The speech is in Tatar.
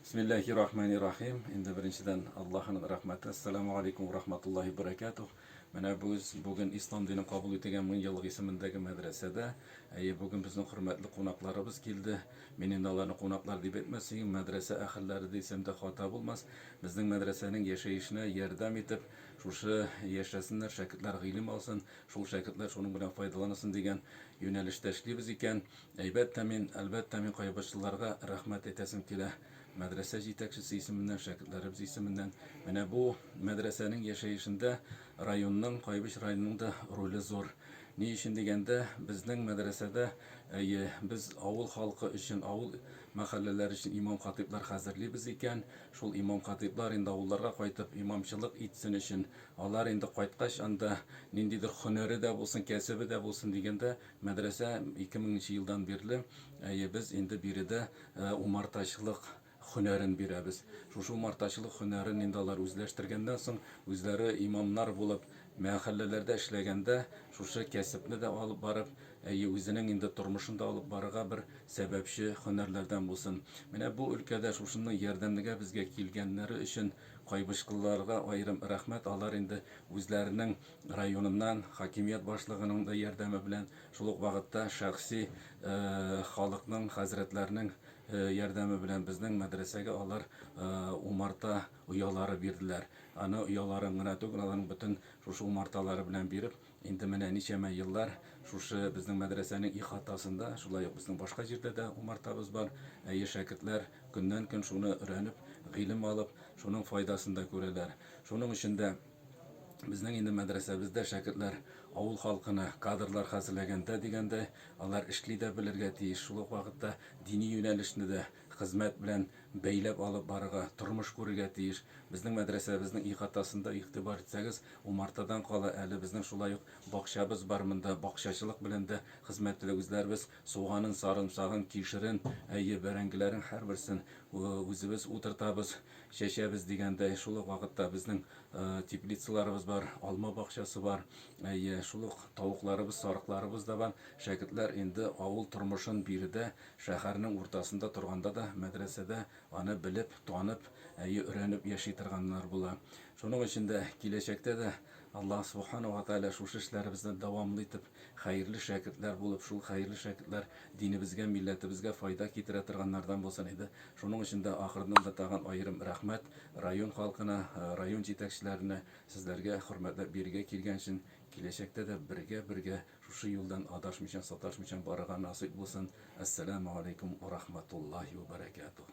Бисмилләхи рахмани рахим. Инде беренчедән Аллаһының рәхмәте. Әссәламү алейкүм вә рахматуллаһи вә бәрәкәтүһ. Менә без бүген Ислам динен кабул итегән мең еллык исемендәге мәдрәсәдә. Әйе, бүген безнең хөрмәтле кунакларыбыз килде. Мин инде аларны кунаклар дип әйтмәсен, мәдрәсә әһелләре дисәм дә хата булмас. Безнең мәдрәсәнең яшәешенә ярдәм итеп, шушы яшәсеннәр, шәкертләр гыйлем алсын, шул шәкертләр шуның белән файдаланысын дигән юнәлештә эшлибез икән. Әйбәттә мин, әлбәттә мин кайбычлыларга рәхмәт әйтәсем килә. Мәдрәсә җитәкчесе исеменнән, шәкертләребез исеменнән. Менә бу мәдрәсәнең яшәешендә районның, Кайбыч районының да роле зур. Ни өчен дигәндә, безнең мәдрәсәдә, әйе, без авыл халкы өчен, авыл мәхәлләләр өчен имам-хатыйблар хәзерлибез икән, шул имам-хатыйблар инде авылларга кайтып имамчылык итсен өчен, алар инде кайткач анда ниндидер һөнәре дә булсын, кәсебе дә булсын дигәндә, Мәдрәсә ике меңенче елдан бирле, әйе, без инде биредә умартачылык һөнәрен бирәбез. Шушы умартачылык һөнәрен инде алар үзләштергәннән соң, үзләре имамнар булып, мәхәлләләрдә эшләгәндә, шушы кәсепне дә алып барып, әйе, үзенең инде тормышын да алып барырга бер сәбәпче һөнәрләрдән булсын. Менә бу өлкәдә шушының ярдәмнегә безгә килгәннәре өчен Кайбычкылыларга аерым рәхмәт, алар инде үзләренең районыннан хакимият башлыгының да ярдәме белән, шул ук вакытта шәхси халыкның, хәзрәтләрнең ярдәме белән безнең мәдрәсәгә алар умарта оялары бирделәр. Аны ояларын гына түгел, аларның бөтен шушы умарталары белән биреп, инде менә ничәмә еллар шушы безнең мәдрәсәнең ихатасында, шулай ук безнең башка җирдә дә умартабыз бар, әйе, шәкертләр көннән-көн шуны өрәнеп, гыйлем алып, шуның файдасын да күрәләр. Шуның өчен дә. Безнең инде мәдрәсәбездә шәкертләр авыл халкына кадрлар хәзерләгәндә дигәндәй, алар эшли дә белергә тиеш, шул ук вакытта дини юнәлешне дә хезмәт белән бәйләп алып барырга, тормыш күрергә тиеш. Безнең мәдрәсәбезнең ихатасында игътибар итсәгез, умартадан кала әле, безнең шулай ук бакчабыз бар, монда бакчачылык белән дә хезмәт итә. Үзләребез суганын, сарымсагын, кишерен, әйе, бәрәңгеләрен һәрберсен үзебез утыртабыз. Чәчәбез дигәндәй, шул ук вакытта безнең теплицаларыбыз бар, алма бакчасы бар, әйе, шул ук тавыкларыбыз, сарыкларыбыз да бар. Шәкертләр инде авыл тормышын биредә, шәһәрнең уртасында торганда да, мәдрәсәдә аны белеп, танып, әйе, өйрәнеп яши торганнар була. Шуның өчен дә киләчәктә дә Аллаһ Субхана ва Тәгалә шушы эшләребезне дәвамлы итеп Хәерле шәкертләр булып, шул хәерле шәкертләр динебезгә, милләтебезгә файда китерә торганнардан булсын иде. Шуның өчен дә ахырдан да тагын аерым рәхмәт район халкына, район җитәкчеләренә, сезләргә хөрмәтләп бирегә килгән өчен. Киләчәктә дә бергә-бергә шушы юлдан адашмыйчан, саташмыйчан барырга насыйп булсын. Әссәламегаләйкүм урахмәтуллаһи үбәрәкәтүһ.